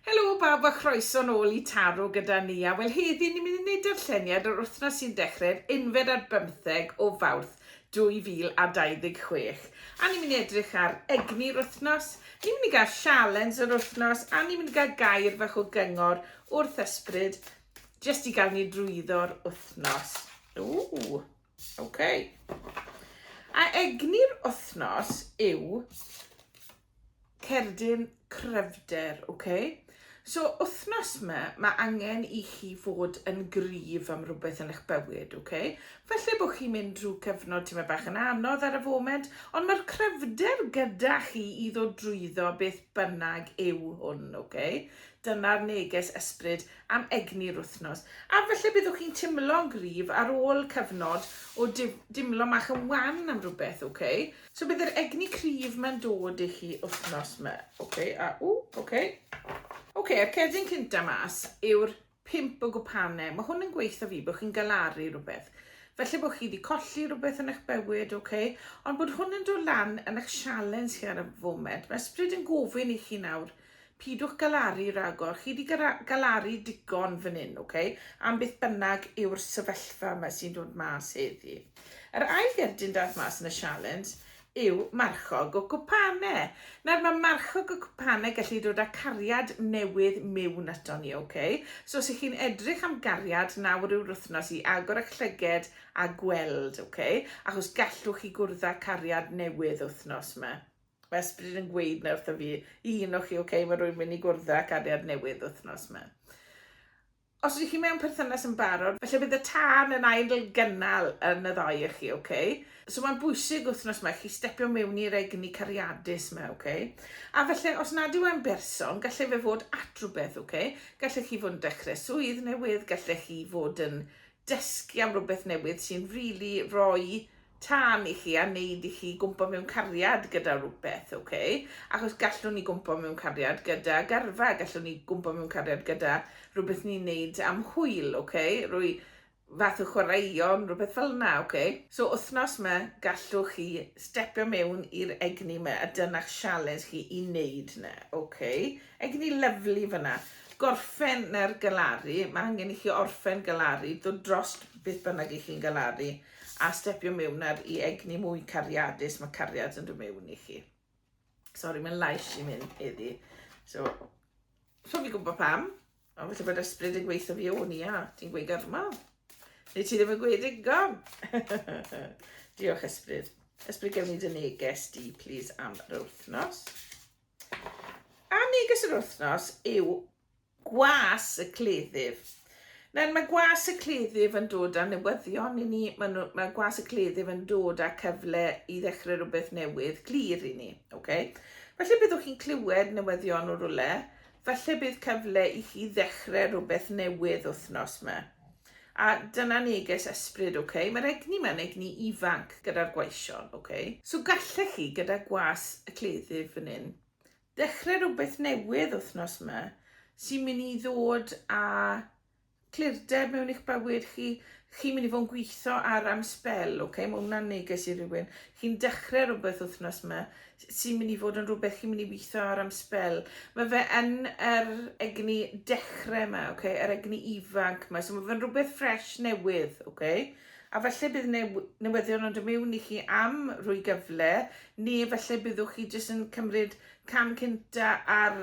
Helo bawb a chroeso nôl i Taro gyda ni a wel heddi ni'n mynd i wneud darlleniad yr wythnos sy'n dechrau'r unfed ar bymtheg o Fawrth 2026 a ni'n mynd i edrych ar egni'r wythnos, ni'n mynd i gael sialens yr wythnos a ni'n mynd i gael gair fach o gyngor wrth ysbryd jyst i gael ni drwyddo'r wythnos. Ww, ok. A egni'r wythnos yw Cerdyn cryfder, ok? So wythnos ma, mae angen i chi fod yn gryf am rhywbeth yn eich bywyd, ok? Felly bod chi'n mynd drwy cyfnod ti'n meddwl bach yn anodd ar y foment, ond mae'r cryfder gyda chi i ddod drwyddo beth bynnag yw hwn, ok? Dyna'r neges ysbryd am egni'r wythnos. A felly byddwch chi'n timlo'n gryf ar ôl cyfnod o dimlo mach yn wan am rhywbeth, ok? So bydd yr egni cryf mae'n dod i chi wythnos yma. Ok, a ww, ok. Ok, okay, a'r cerdyn cynta mas yw'r pimp o gwpanau. Mae hwn yn gweithio fi bod chi'n galaru rhywbeth. Felly bod chi wedi colli rhywbeth yn eich bywyd, ok? Ond bod hwn yn dod lan yn eich sialens chi ar y foment. Mae ysbryd yn gofyn i chi nawr Pidwch galaru ragor, chi 'di galaru digon fan hyn, ok? Am beth bynnag yw'r sefyllfa yma sy'n dod mas heddi. Yr ail gerdyn daeth mas yn y sialens yw marchog o cwpane. Nawr mae marchog o cwpane gallu dod â cariad newydd miwn ato ni, ok? So os ych chi'n edrych am gariad nawr yw'r wythnos i agor eich llyged a gweld, ok? Achos gallwch chi gwrdd â cariad newydd wythnos yma. Mae ysbryd yn gweud na wrtho fi, i un o chi, ok, mae rwy'n mynd i gwrdd â cariad newydd wythnos ma. Os ydych chi mewn perthynas yn barod, felly bydd y tân yn ail gynnal yn y ddau o chi, ok? So mae'n bwysig wythnos ma chi stepio mewn i'r egni cariadus ma, ok? A felly, os nad yw e'n berson, gallai fe fod at rhywbeth, ok? Gallech chi fod yn dechrau swydd newydd, gallech chi fod yn dysgu am rhywbeth newydd sy'n rili really rhoi tân i chi a wneud i chi gwmpo mewn cariad gyda rhywbeth, ok? Achos gallwn ni gwmpo mewn cariad gyda garfa, gallwn ni gwmpo mewn cariad gyda rhywbeth ni'n wneud am hwyl, ok? Rwy fath o chwaraeon, rhywbeth fel yna, ok? So wythnos yma, gallwch chi stepio mewn i'r egni yma a dyna'ch sialens chi i wneud yna, ok? Egni lyfli fyna. Gorffen na'r galaru, mae angen i chi orffen galaru, dod drost beth bynnag i chi'n galaru. A stepio mewn ar i egni mwy cariadus, mae cariad yn dod mewn i chi. Sori, mae'n lais i mynd heddi. So, rhwng i gwybod pam, a felly bod ysbryd yn gweithio fi o'n i, a ti'n gweud gyrma. Neu ti ddim yn gweud digon. Diolch ysbryd. Ysbryd gewn ni dy neges di, please, am yr wythnos. A neges yr wythnos yw Gwas y Cleddyf. Nawr, mae Gwas y Cleddyf yn dod â newyddion i ni, mae, nhw, mae Gwas y Cleddyf yn dod â cyfle i ddechrau rhywbeth newydd glir i ni. Okay? Felly byddwch chi'n clywed newyddion o rwle, felly bydd cyfle i chi ddechrau rhywbeth newydd wythnos yma. A dyna neges ysbryd, oce? Okay? Mae'r egni yma'n egni ifanc gyda'r gwaision, oce? Okay? So gallech chi, gyda gwas y cleddyf fan hyn, Dechrau rhywbeth newydd wythnos ma sy'n mynd i ddod â clirdeb mewn i'ch bywyd chi. Chi'n mynd i fod yn gweithio ar am sbel, ok? Mae hwnna'n neges i rywun. Chi'n dechrau rhywbeth wythnos ma sy'n mynd i fod yn rhywbeth chi'n mynd i weithio ar am sbel. Mae fe yn yr egni dechrau ma, ok? Yr egni ifanc ma. So mae fe'n rhywbeth ffres newydd, ok? A falle bydd new, newyddion yn dod mewn i chi am rwy gyfle, neu falle byddwch chi jyst yn cymryd cam cynta ar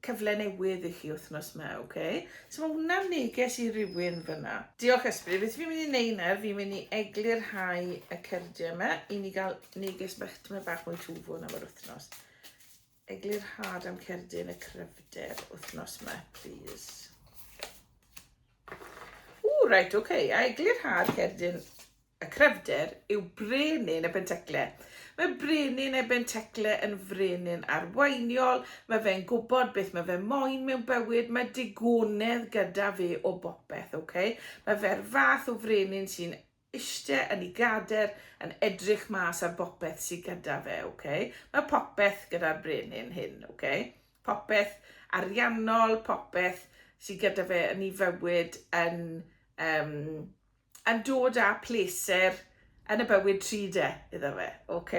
cyfle newydd i chi wythnos ma, oce? Okay? So mae hwnna'n neges i rywun fyna. Diolch Ysbryd, beth fi'n mynd i neud nawr, fi'n mynd i eglurhau y cyrdiau yma i ni gael neges bach, tyma bach mwy twfwn am yr wythnos. Eglurhad am cerdyn y cryfder wthnos ma plîs. Ww reit ok, a eglurhad cerdyn y cryfder yw brenin y bentecle. Mae brenin y bentecle yn frenin arweiniol, mae fe'n gwybod beth mae fe moyn mewn bywyd, mae digonedd gyda fe o bopeth, ok? Mae fe'r fath o frenin sy'n ishte yn ei gader yn edrych mas ar bopeth sy gyda fe, ok? Mae popeth gyda'r brenin hyn, ok? Popeth ariannol, popeth sy gyda fe yn ei fywyd yn, um, yn dod â pleser yn y bywyd tri de, iddo fe, ok?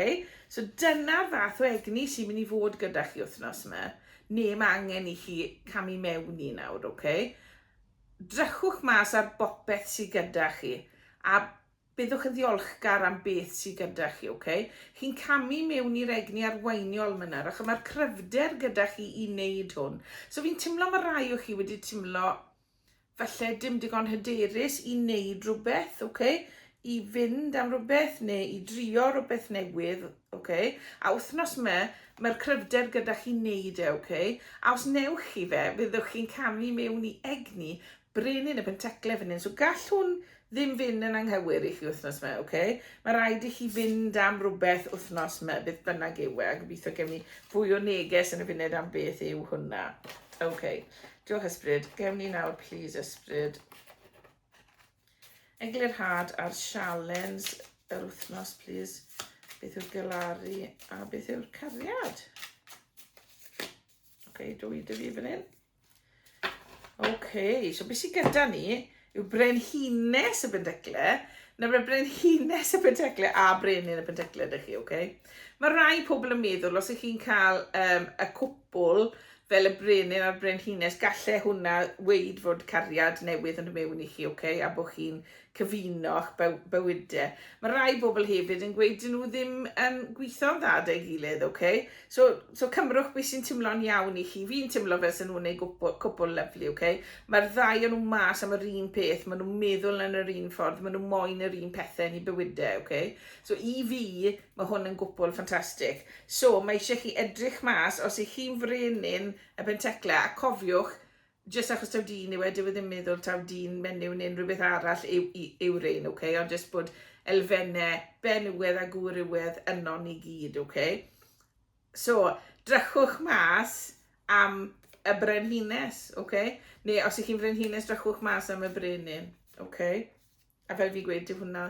So dyna'r fath o egni sy'n mynd i fod gyda chi wythnos yma. Ne mae angen i chi camu mewn i nawr, ok? Drychwch mas ar bopeth sy gyda chi a byddwch yn ddiolchgar am beth sy gyda chi, ok? Chi'n camu mewn i'r egni arweiniol myna, rach, a mae'r cryfder gyda chi i wneud hwn. So fi'n timlo mae rai o chi wedi timlo falle dim digon hyderus i wneud rhywbeth, ok? i fynd am rhywbeth neu i drio rhywbeth newydd, ok? A wythnos me, mae'r cryfder gyda chi wneud e, ok? A os newch chi fe, fyddwch chi'n camu mewn i egni brenin y pentecle fan hyn. So gall hwn ddim fynd yn anghywir i chi wythnos me, ok? Mae rhaid i chi fynd am rhywbeth wythnos me, beth bynnag yw e, a gobeithio gen ni fwy o neges yn y funud am beth yw hwnna. Ok, diolch ysbryd. Gewn ni nawr, please, ysbryd. Eglurhad ar sialens yr wythnos, plis. Beth yw'r galaru a beth yw'r cariad? Oce, okay, dwi dy fi fan hyn. Oce, okay, so beth sy'n gyda ni yw brenhines y bendecle. Na mae brenhines y bendecle a brenin y bendecle ydych chi, oce? Okay? Mae rai pobl yn meddwl, os ych chi'n cael um, y cwpl, Fel y brenin a'r brenhines, gallai hwnna weud fod cariad newydd yn dod mewn i chi, ok, a bod chi'n cyfuno'ch bywyde. Mae rhai bobl hefyd yn gweud dyn nhw ddim yn gwitho'n dda 'da'i gilydd, ok? So, so cymrwch be sy'n timlo'n iawn i chi. Fi'n timlo fel sy'n nhw'n ei gwpl, cwpl lyfli, ok? Mae'r ddau o'n nhw mas am yr un peth, maen nhw'n meddwl yn yr un ffordd, maen nhw moyn yr un pethau yn eu bywyde, ok? So i fi, Mae hwn yn gwpwl ffantastig. So, mae eisiau chi edrych mas os ych chi'n frenin y pentecla, a cofiwch, jyst achos taw dyn yw e, dyw e ddim meddwl taw dyn menyw neu unrhyw beth arall yw, yw rein, oce? Okay? Ond jyst bod elfennau benywedd a gwrywedd yno ni gyd, oce? Okay? So, drychwch mas am y brenhines, oce? Okay? Neu os ych chi'n frenhines, drychwch mas am y brenin, oce? Okay? A fel fi'n gweud, dyw hwnna...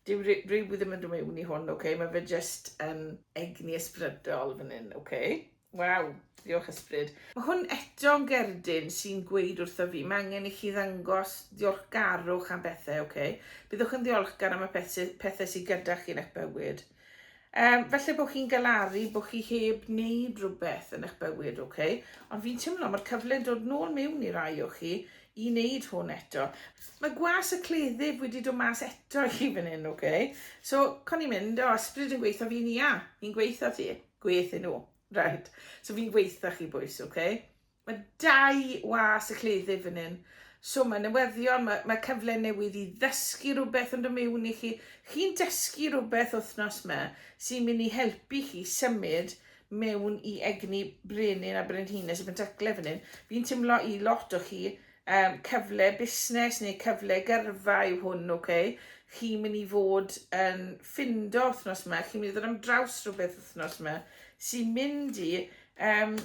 dyw ry- ryw ddim yn dod mewn i hwn, ok, mae fe jyst yn egni ysbrydol fan hyn, ok. Waw, diolch ysbryd. Mae hwn eto yn gerdyn sy'n gweud wrtho fi, mae angen i chi ddangos ddiolchgarwch am bethau, ok. Byddwch yn ddiolchgar am y pethau sydd gyda chi yn eich bywyd. Um, felly bod chi'n galaru, bod chi heb wneud rhywbeth yn eich bywyd, oce? Okay? Ond fi'n teimlo mae'r cyfle'n dod nôl mewn i rai o chi i wneud hwn eto. Mae gwas y cleddyf wedi dod mas eto i chi fan hyn, oce? Okay? So, con i'n mynd, o, ysbryd yn gweithio fi'n ia, fi'n gweithio ti, gweithio nhw, right? So fi'n gweithio chi bwys, oce? Okay? Mae dau was y cleddyf fan hyn. So mae newyddion, mae, mae cyfle newydd i ddysgu rhywbeth yn dod mewn i chi. Chi'n dysgu rhywbeth wythnos yma sy'n mynd i helpu chi symud mewn i egni brenin a brenhines y Pentacle fan hyn. Fi'n teimlo i lot o chi um, cyfle busnes neu cyfle gyrfa yw hwn, oce? Okay? Chi'n mynd i fod yn ffindo wythnos yma, chi'n mynd i ddod am draws rhywbeth wythnos yma sy'n mynd i um,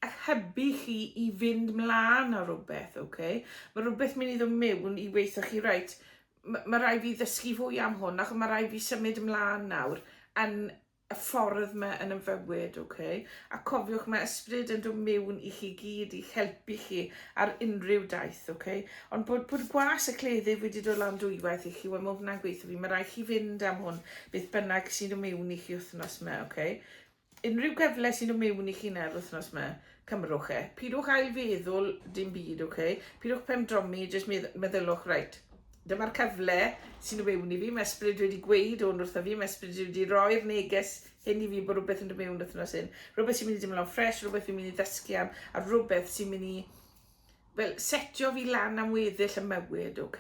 a'ch hybu chi i fynd mlaen ar rhywbeth, ok? Mae rhywbeth mynd i ddod mewn i weithio chi, right, mae rhaid fi ddysgu fwy am hwn, ac mae rhaid fi symud ymlaen nawr yn y ffordd mae yn ymfywyd, ok? A cofiwch, mae ysbryd yn dod mewn i chi gyd i'ch helpu chi ar unrhyw daith, ok? Ond bod, bod gwas y cleddyf wedi dod lan dwywaith i chi, wel mae hwnna'n gweithio fi, mae rhaid chi fynd am hwn, beth bynnag sy'n dod mewn i chi wythnos yma, ok? Unrhyw gyfle sy'n dod miwn i chi nawr wythnos ma, cymrwch e. Pidwch ail feddwl dim byd, ok? Pidwch pen dromi, jyst meddylwch, right, dyma'r cyfle sy'n dod miwn i fi, mae ysbryd wedi gweud hwn wrtho fi, mae ysbryd wedi roi'r neges hyn i fi bod rhywbeth yn dod miwn wythnos hyn. Rhywbeth sy'n mynd i dimlo'n ffres, rhywbeth fi'n mynd i ddysgu am, a rhywbeth sy'n mynd i well, setio fi lan am weddill y mywyd, ok?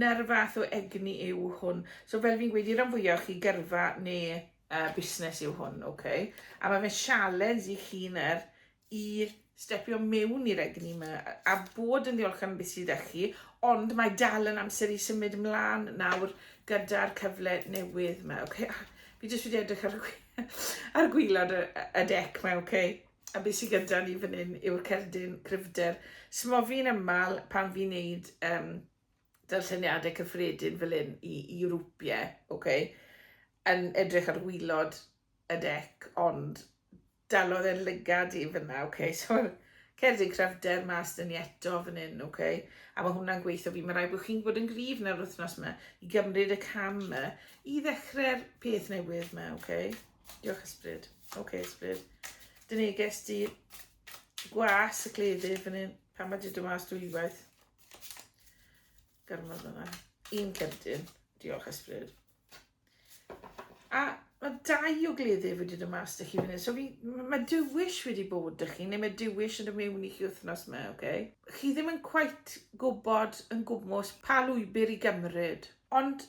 Na'r fath o egni yw hwn. So fel fi'n gweud, i'r rhan fwyaf chi gyrfa neu uh, busnes yw hwn, oce. Okay? A mae fe'n sialens i chi na'r i stepio mewn i'r egni yma a bod yn ddiolch am beth sydd â chi, ond mae dal yn amser i symud ymlaen nawr gyda'r cyfle newydd yma. Okay? Fi jyst wedi edrych ar, ar gwylod y, y dec yma, okay? a beth sydd gyda ni fan hyn yw'r cerdyn cryfder. Smofi'n ymal pan fi'n neud um, darlleniadau cyffredin fel hyn i, i rwpie, ok, yn edrych ar wylod y dec, ond dalodd e'n lygad i fyna, ok, so'r cerdyn cryfder mas dyn ni eto fan hyn, ok, a mae hwnna'n gweithio fi, mae rhaid bod chi'n bod yn gryf na'r wythnos yma i gymryd y cam yma i ddechrau'r peth newydd yma, ok, diolch ysbryd, ok ysbryd, dyn ni ges di gwas y cleddyf fan hyn, pan mae di dymas dwywaith. Gormod yma. Un cerdyn. Diolch, Esbryd. A mae dau o gleddyf wedi dod mas da chi fan hyn. So fi, mae dywyll wedi bod da chi, neu mae dywyll yn y mewn i chi wythnos yma, oce? Okay? Chi ddim yn cweit gwybod yn gwmwys pa lwybr i gymryd. Ond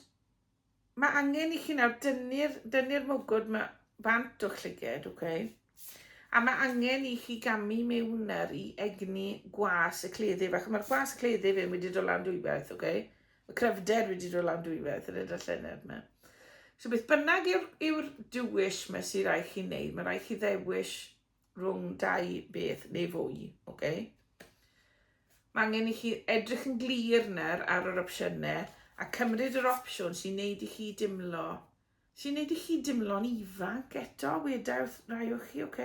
Mae angen i chi nawr dynnu'r dynnu mwgwd ma bant o'ch llyged, ok? A mae angen i chi gamu mewn ar i egni gwas y cleddyf, ac mae'r gwas y cleddyf yn wedi dod lan dwywaith, ok? Y cryfder wedi dod lan dwywaith, yr edrych llenedd yma. So beth bynnag yw'r yw dywyll mae sy'n rhaid chi wneud, mae rhaid chi ddewis rhwng dau beth neu fwy, ok? Mae angen i chi edrych yn glir nawr ar yr opsiynau a cymryd yr opsiwn sy'n neud i chi dimlo sy'n neud i chi dimlo'n ifanc eto, wedawth rai o chi, ok?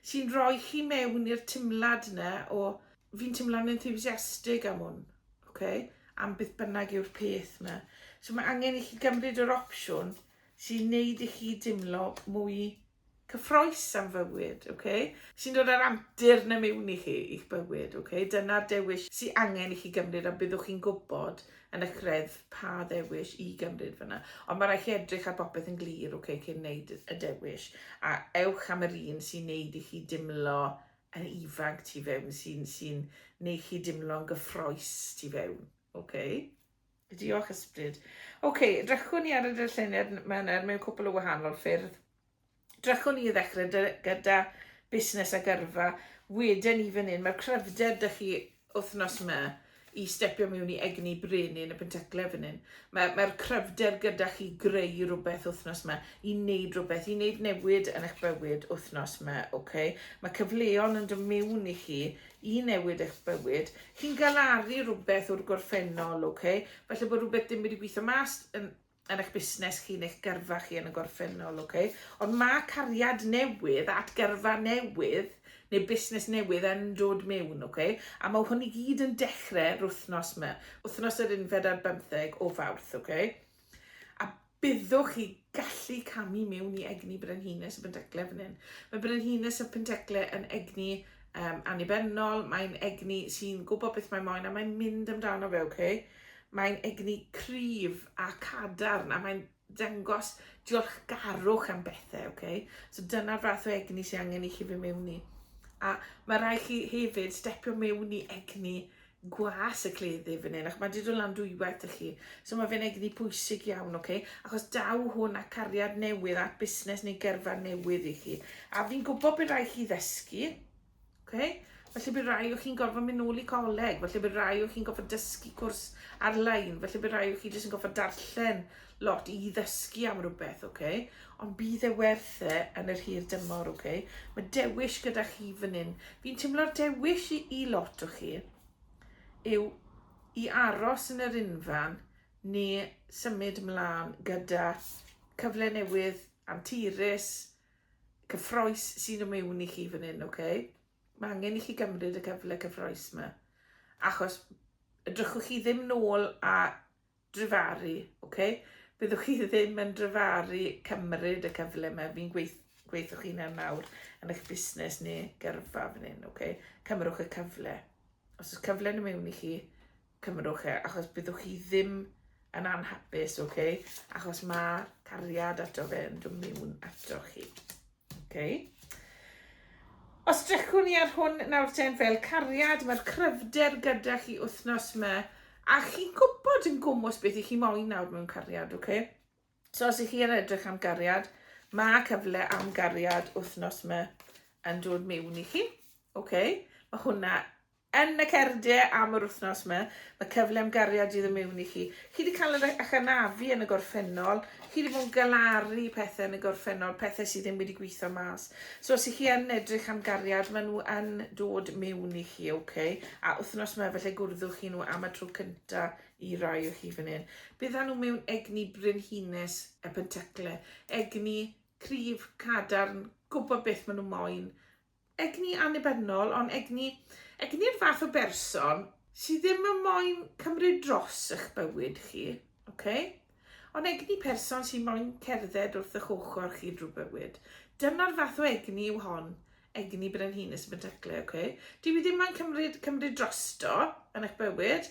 Sy'n rhoi chi mewn i'r timlad yna o fi'n timlo'n enthusiastig am hwn, ok? Am beth bynnag yw'r peth yna. So mae angen i chi gymryd yr opsiwn sy'n neud i chi dimlo mwy cyffroes am fywyd, ok? Sy'n dod â'r antur na mewn i chi, i'ch bywyd, ok? Dyna'r dewis sy'n angen i chi gymryd a byddwch chi'n gwybod yn y credd pa ddewis i gymryd fyna. Ond mae rhaid chi edrych ar bopeth yn glir, ok, cyn wneud y dewis. A ewch am yr un sy'n neud i chi dimlo yn ifanc tu fewn, sy'n sy neud chi dimlo'n gyffroes tu fewn, ok? Diolch Ysbryd. Ok, drychwn ni ar y dyllunydd mewn er mewn cwpl o wahanol ffyrdd. Drychwn ni i ddechrau gyda busnes a gyrfa. Wedyn ni fan hyn, mae'r cryfder dych chi wythnos yma i stepio mewn i egni brenin y pentaclau fan hyn. Mae'r mae cryfder gyda chi greu rhywbeth wythnos yma, i wneud rhywbeth, i wneud newid yn eich bywyd wythnos yma. Okay? Mae cyfleon yn dod mewn i chi i newid eich bywyd. Chi'n galaru rhywbeth o'r gorffennol, ok? Falle bod rhywbeth dim wedi gweithio mas yn, yn eich busnes chi neu'ch gyrfa chi yn y gorffennol, ok? Ond mae cariad newydd at gyrfa newydd neu busnes newydd yn dod mewn, ok? A mae hwn i gyd yn dechrau rwythnos yma, wythnos yr unfed ar bymtheg o fawrth, ok? A Byddwch chi gallu camu mewn i egni Brenhines y Pentecle fan hyn. Mae Brenhines y Pentecle yn egni um, annibynnol, mae'n egni sy'n gwybod beth mae'n moyn a mae'n mynd amdano fe, oce? Okay? Mae'n egni cryf a cadarn a mae'n dangos diolchgarwch am bethau, oce? Okay? So dyna'r fath o egni sy'n angen i chi fy mewn i. A mae rhaid chi hefyd stepio mewn i egni gwas y cleddyf fan hyn, ac mae wedi dod lan dwywaith i chi. So mae fe'n egni pwysig iawn, oce? Okay? Achos daw hwn a cariad newydd at busnes neu gyrfa newydd i chi. A fi'n gwybod bydd rai chi ddysgu, oce? Okay? Felly bydd rai o chi'n gorfod mynd nôl i coleg, felly bydd rai o chi'n gorfod dysgu cwrs ar-lein, felly bydd rai o chi jyst yn gorfod darllen lot i ddysgu am rhywbeth, ok? Ond bydd e werth e yn yr hir dymor, ok? Mae dewis gyda chi fan hyn. Fi'n teimlo'r dewis i, i lot o chi yw i aros yn yr unfan ni symud mlaen gyda cyfle newydd, anturus, cyffroes sy'n y mewn i chi fan hyn, ok? Mae angen i chi gymryd y cyfle cyffroes yma. Achos ydrychwch chi ddim nôl a dryfaru, ok? Byddwch chi ddim yn dryfaru cymryd y cyfle yma, fi'n gweith, gweithwch chi'n e nawr yn eich busnes neu gyrfa fan hyn, ok? Cymrwch y cyfle. Os oes cyfle yn y mewn i chi, cymrwch e, achos byddwch chi ddim yn anhapus, ok? Achos mae cariad ato fe yn dod mewn ato chi. Okay. Os drychwn ni ar hwn nawr ten fel cariad, mae'r cryfder gyda chi wythnos yma, a chi'n gwybod yn gwmwys beth i chi moyn nawr mewn cariad, oce? Okay? So os ych chi yn edrych am gariad, mae cyfle am gariad wythnos yma yn dod mewn i chi, oce? Okay? Mae hwnna Yn y cardiau am yr wythnos 'ma, mae cyfle am gariad i ddod mewn i chi. Chi 'di cael yr eich anafu yn y gorffennol, chi 'di bod yn galaru pethau yn y gorffennol, pethau sydd ddim wedi gweithio mas. So os 'y chi yn edrych am gariad, maen nhw yn dod mewn i chi, ok? A wythnos 'ma, felly gwrddwch chi nhw am y tro cynta i rai o chi fan hyn. Byddan nhw mewn egni brenhines y pentacle, egni cryf, cadarn, gwybod beth maen nhw moyn, egni annibynnol ond egni, egni'r fath o berson sydd ddim yn moyn cymryd dros eich bywyd chi, okay? ond egni person sy'n moyn cerdded wrth eich ochr chi drwy bywyd. Dyna'r fath o egni yw hon, egni brenhines yn bynteclu, okay? Dwi wedi ddim moyn cymryd, cymryd drosto yn eich bywyd,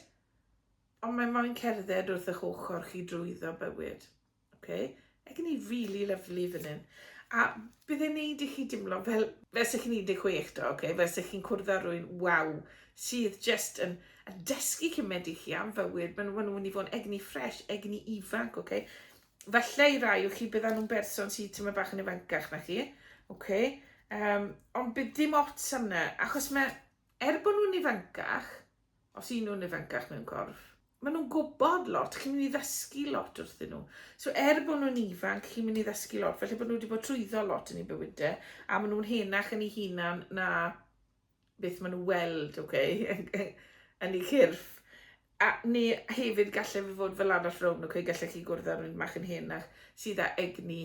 ond mae'n moyn cerdded wrth eich ochr chi drwyddo bywyd. Ok, mae gen i really lovely fan hyn. A bydd e'n neud i chi dimlo fel, fel se chi'n 16 do, ok? Fel se chi'n cwrdd â rwy'n waw, sydd just yn, yn dysgu cymed i chi am fywyd. Mae'n ma nhw'n mynd i fod yn egni ffres, egni ifanc, ok? Falle i rai o chi bydd nhw'n berson sydd tyma bach yn ifancach na chi, ok? Um, ond bydd dim ots am na, achos mae, er bod nhw'n ifancach, Os y'n nhw'n ifancach mewn corff, maen nhw'n gwybod lot, chi'n mynd i ddysgu lot wrthyn nhw. So er bod nhw'n ifanc, chi'n mynd i ddysgu lot, felly bod nhw wedi bod trwyddo lot yn ei bywydau, a maen nhw'n henach yn ei hunan na beth maen nhw weld, oce, okay? yn ei chyrff. A neu hefyd gallai fe fod fel arall rown, oce, okay? gallai chi gwrdd â rhywun mach yn henach sydd â egni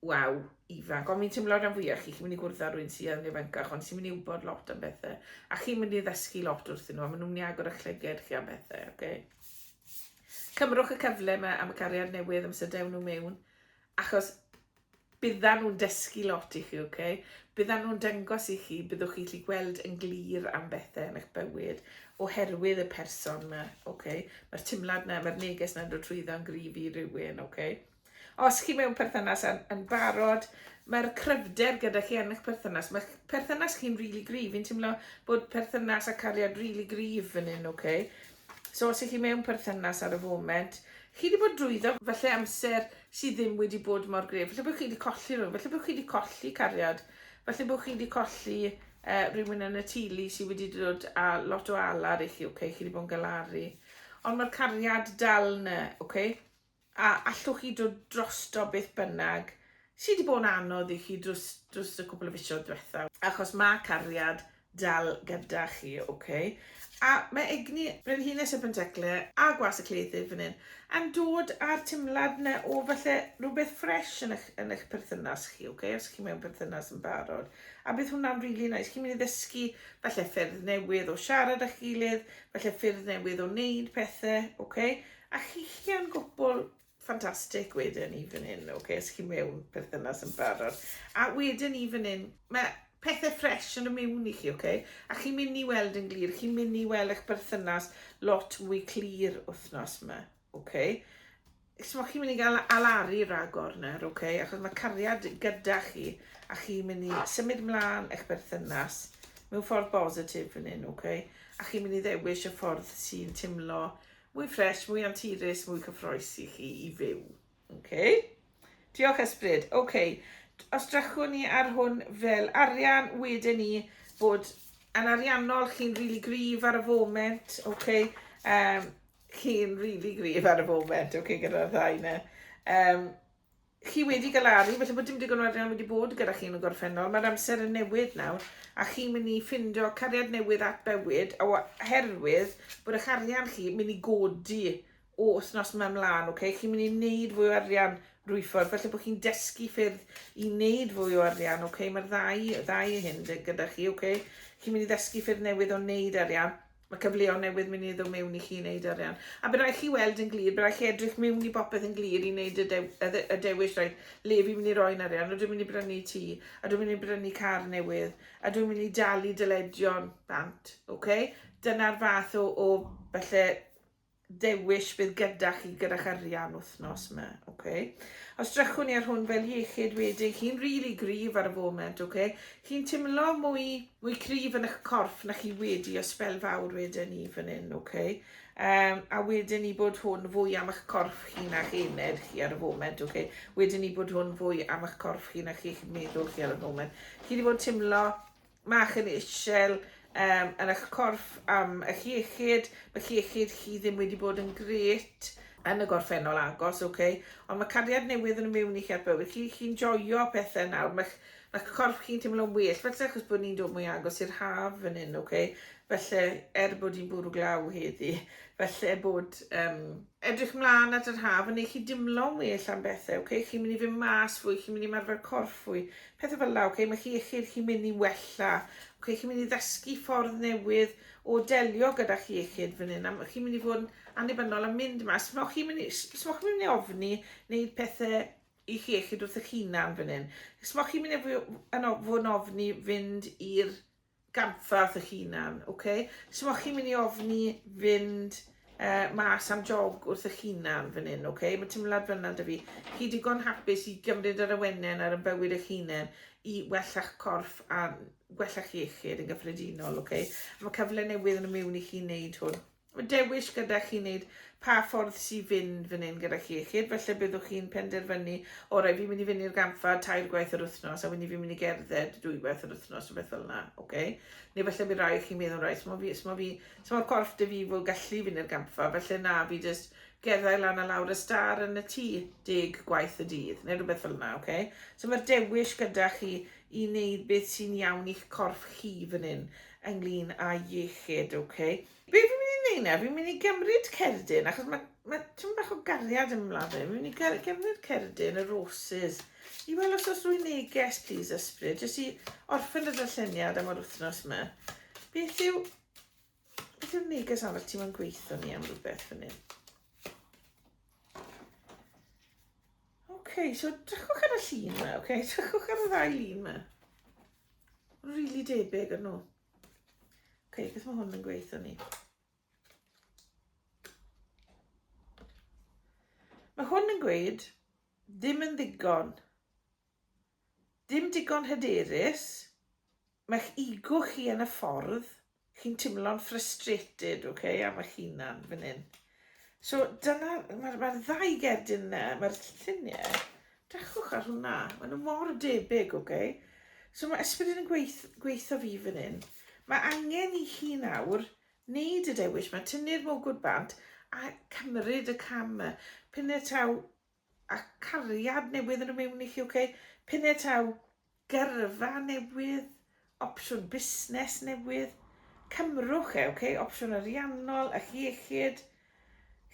Waw, ifanc, ond fi'n teimlo rhan fwyaf chi, chi'n mynd i gwrdd â rwy'n sydd yn ifancach, ond sy'n mynd i wybod lot am bethau, a chi'n mynd i ddysgu lot wrthyn nhw, a maen nhw'n mynd i agor eich llygaid chi am bethau, oce? Okay? Cymrwch y cyfle yma am y cariad newydd, am sydd dewn nhw mewn, achos byddan nhw'n dysgu lot i chi, oce? Okay? Byddan nhw'n dangos i chi, byddwch chi'n gallu gweld yn glir am bethau yn eich bywyd, oherwydd y person yma, oce? Okay? Mae'r timlad yna, mae'r neges yna'n dod trwyddo yn gryf i rywun, oce? Okay? Os chi mewn perthynas yn, yn barod, mae'r cryfder gyda chi yn eich perthynas. Mae perthynas chi'n rili really gryf. Fi'n teimlo bod perthynas a cariad rili really gryf yn un, oce? Okay? So os ych chi mewn perthynas ar y foment, chi wedi bod drwyddo falle amser sydd ddim wedi bod mor gref. Falle bod chi wedi colli rhywun, falle bod chi wedi colli cariad, falle bod chi wedi colli uh, rhywun yn y tulu sydd wedi dod a lot o alar i chi, oce? Okay? Chi wedi bod yn galaru. Ond mae'r cariad dal yna, oce? Okay? A allwch chi dod drosto beth bynnag sydd wedi bod yn anodd i chi drws, drws y cwpl o fisoedd diwetha, achos mae cariad dal gyda chi, oce? Okay? A mae egni Brenhines y Pentecle a Gwas y Cleidydd fan hyn yn dod â'r timlad yna o falle rhywbeth ffres yn eich, yn eich perthynas chi, oce? Okay? Os chi mewn perthynas yn barod. A bydd hwnna'n rili really nice. Chi'n mynd i ddysgu falle ffyrdd newydd o siarad â'ch gilydd, falle ffyrdd newydd o wneud pethau, oce? Okay? A chi chi yn gwbl ffantastig wedyn i fan hyn, ok, os chi mewn perthynas yn barod. A wedyn i fan hyn, mae pethau ffres yn y mewn i chi, ok? A chi'n mynd i weld yn glir, chi'n mynd i weld eich perthynas lot mwy clir wythnos yma, ok? Chos chi'n mynd i gael alaru ragor nawr, ok? Achos mae cariad gyda chi, a chi'n mynd i symud mlaen eich perthynas mewn ffordd bositif fan hyn, ok? A chi'n mynd i ddewis y ffordd sy'n timlo Mwy ffresh, mwy anturus, mwy cyffroes i chi i fyw. OK. Diolch Ysbryd. OK. Os drychwn ni ar hwn fel arian, wedyn ni bod yn ariannol, chi'n rili really gryf ar y foment. OK. Um, chi'n rili really gryf ar y foment. OK, gyda'r ddau na. Um, Chi wedi galaru, falle bod dim digon o arian wedi bod gyda chi yn y gorffennol, mae'r amser yn newid nawr, a chi'n mynd i ffindo cariad newydd at bywyd, a oherwydd bod eich arian chi mynd i godi o wythnos yma ymlaen, okay? chi'n mynd i wneud fwy o arian rwy ffordd, felly bod chi'n dysgu ffyrdd i wneud fwy o arian, okay? mae'r ddau, ddau hyn gyda chi, okay? chi'n mynd i ddysgu ffyrdd newydd o wneud arian, Mae cyfleon newydd mynd i ddod mewn i chi i wneud arian. A bydd rhaid chi weld yn glir, bydd rhaid chi edrych mewn i bopeth yn glir i wneud y, dew, y, de, y dewis, rhaid, le fi'n mynd i roi'n arian, a dwi'n mynd i brynu tŷ, a dwi'n mynd i brynu car newydd, a dwi'n mynd i dalu dyledion bant, oce? Okay? Dyna'r fath o, o falle dewis bydd gyda chi gyda'ch arian wythnos yma, oce? Os drychwn ni ar hwn fel iechyd wedi, chi'n rili really gryf ar y foment, oce? Chi'n timlo mwy, mwy cryf yn eich corff na chi wedi o spel fawr wedyn ni fan hyn, oce? Um, a wedyn ni bod hwn fwy am eich corff chi na chi ened chi ar y foment, oce? Okay? Wedyn ni bod hwn fwy am eich corff chi na chi eich meddwl chi ar y foment. Chi wedi bod yn teimlo Mae chi'n isel um, yn eich corff am eich iechyd, mae iechyd chi ddim wedi bod yn gret yn y gorffennol agos, oce, okay? ond mae cariad newydd yn y mewn i chi at bywyd chi, chi'n joio pethau nawr, mae'ch ma corff chi'n teimlo'n well, felly achos bod ni'n dod mwy agos i'r haf fan hyn, oce, okay? felly er bod hi'n bwrw glaw heddi, felly bod um, Edrych mlan at yr haf yn neu chi dimlo'n well am bethe, ok? Chi'n mynd i fyn mas fwy, chi'n mynd i marfer corff fwy, pethe fel la, ok? Mae chi iechyd chi'n mynd i wella, ok? Chi'n mynd i ddysgu ffordd newydd o delio gyda chi iechyd fan hyn, a chi'n mynd i fod yn annibynnol am mynd mas. Smoch chi'n mynd i, smoch chi'n mynd i ofni wneud pethe i chi iechyd wrth eich hunan fan hyn. Smoch chi'n mynd i fod yn ofni fynd i'r ganddat eich hunan, ok? So ma' chi'n mynd i ofni fynd uh, mas am jog wrth eich hunan fan hyn, ok? Mae teimlad fyna da fi. Chi digon hapus i gymryd yr awennen ar y bywyd eich hunan i wella'ch corff a gwella'ch iechyd yn gyffredinol, ok? Mae cyfle newydd yn y mewn i chi wneud hwn. dewis gyda chi wneud pa ffordd sy'n fynd fan hyn gyda chi iechyd, felly byddwch chi'n penderfynu, orau, fi'n mynd i fynd i'r gampfa tair gwaith yr wythnos, a wedyn fi'n mynd i gerdded dwy gwaith yr wythnos, rhywbeth fel yna, oce? Neu felly bydd rai chi'n meddwl, rai, sma fi, sma fi, sma corff dy fi fod gallu fynd i'r gampfa, felly na, fi jyst gerddau lan a lawr y star yn y tŷ deg gwaith y dydd, neu rhywbeth fel yna, oce? So mae'r dewis gyda chi i wneud beth sy'n iawn i'ch corff chi fan hyn. ynglyn â iechyd, ok. Be fi'n mynd i wneud na, fi'n mynd i gymryd cerdyn, achos mae, mae tyn bach o gariad yn ymlaen fe, fi'n mynd i gymryd cerdyn, y roses, i weld os oes rwy'n neges, please, ysbryd, jyst i orffen y darlleniad am yr wythnos yma. Beth yw, beth yw'r neges arall ti'n mynd gweithio ni am rhywbeth fan hyn? OK, so drychwch ar y llun yma, OK, drychwch ar y ddau lun yma. Really debyg yn nhw. Ok, beth mae hwn yn gweithio ni? Mae hwn yn gweud, ddim yn ddigon. Dim digon hyderus. Mae'ch ego chi yn y ffordd. Chi'n timlo'n frustrated, ok, am eich hunan fan hyn. So dyna, mae'r ma ddau gerdyn yna, mae'r lluniau, dechwch ar hwnna, maen nhw mor debyg, ok. So mae ysbryd yn gweith, gweithio fi fan hyn. Mae angen i chi nawr wneud y dewis, mae tynnu'r mogwr bant a cymryd y cam. Pyn y taw a cariad newydd yn y mewn i chi, ok? Pennau taw, gyrfa newydd, opsiwn busnes newydd, cymrwch e, ok? Opsiwn ariannol, eich iechyd.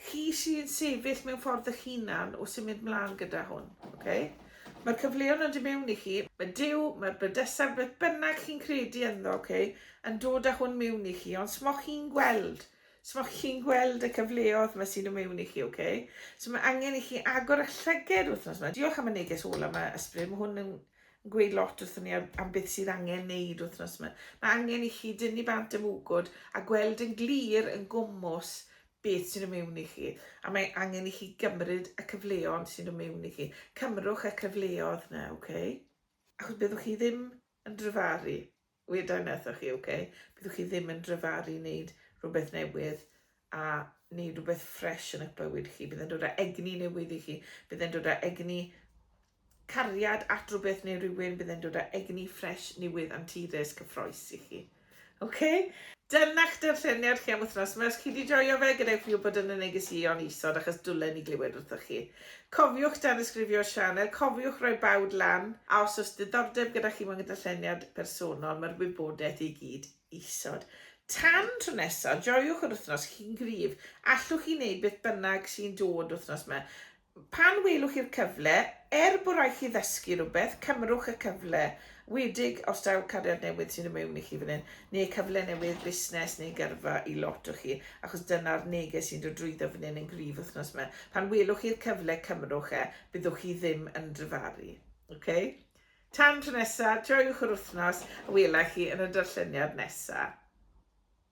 Chi sy'n sefyll mewn ffordd eich hunan o symud mlaen gyda hwn, ok? Mae'r cyfleon yn dod mewn i chi, mae Dyw, mae'r bydysaf, beth bynnag chi'n credu ynddo, ok? Yn dod â hwn mewn i chi, ond smoch chi'n gweld So mae chi'n gweld y cyfleodd mae sy'n ymewn i chi, oce? Okay? So mae angen i chi agor y llyged wythnos yma. Diolch am y neges ola yma, Ysbryd. Mae hwn yn gweud lot wrthyn ni am, am beth sydd angen neud wythnos yma. Mae angen i chi dynnu bant am wgwd a gweld yn glir yn gwmwys beth sy'n ymewn i chi. A mae angen i chi gymryd y cyfleon sy'n ymewn i chi. Cymrwch y cyfleodd na, oce? Okay? Achos byddwch chi ddim yn dryfaru. Weda wnaethoch chi, ok, byddwch chi ddim yn dryfaru wneud rhywbeth newydd a wneud rhywbeth ffresh yn eich bywyd chi. Bydd e'n dod â egni newydd i chi. Bydd e'n dod â egni cariad at rhywbeth neu rhywun. Bydd e'n dod â egni ffresh, newydd, anturus, cyffroes i chi. Ok? Dyna'ch darlleniad chi am wythnos yma. Os chi wedi joio fe, gadewch fi wybod yn y negeseuon isod achos dwlen i glywed wrthoch chi. Cofiwch danysgrifio'r sianel, cofiwch roi bawd lan, a os oes diddordeb gyda chi mewn darlleniad personol, mae'r wybodaeth i gyd isod. Tan tro nesa, joiwch yr wythnos, chi'n gryf, allwch chi wneud beth bynnag sy'n dod wythnos ma. Pan welwch chi'r cyfle, er bod rhaid chi ddysgu rhywbeth, cymrwch y cyfle, Wedig os daw cariad newydd sydd yn mewn i chi fan hyn, neu cyfle newydd busnes neu gyrfa i lot o chi, achos dyna'r neges sy'n dod drwyddo fan hyn yn gryf wythnos 'ma. Pan welwch chi'r cyfle, cymrwch e, byddwch chi ddim yn dryfaru. Ok? Tan tro nesa, joiwch yr wythnos, a wela i chi yn y darlleniad nesa.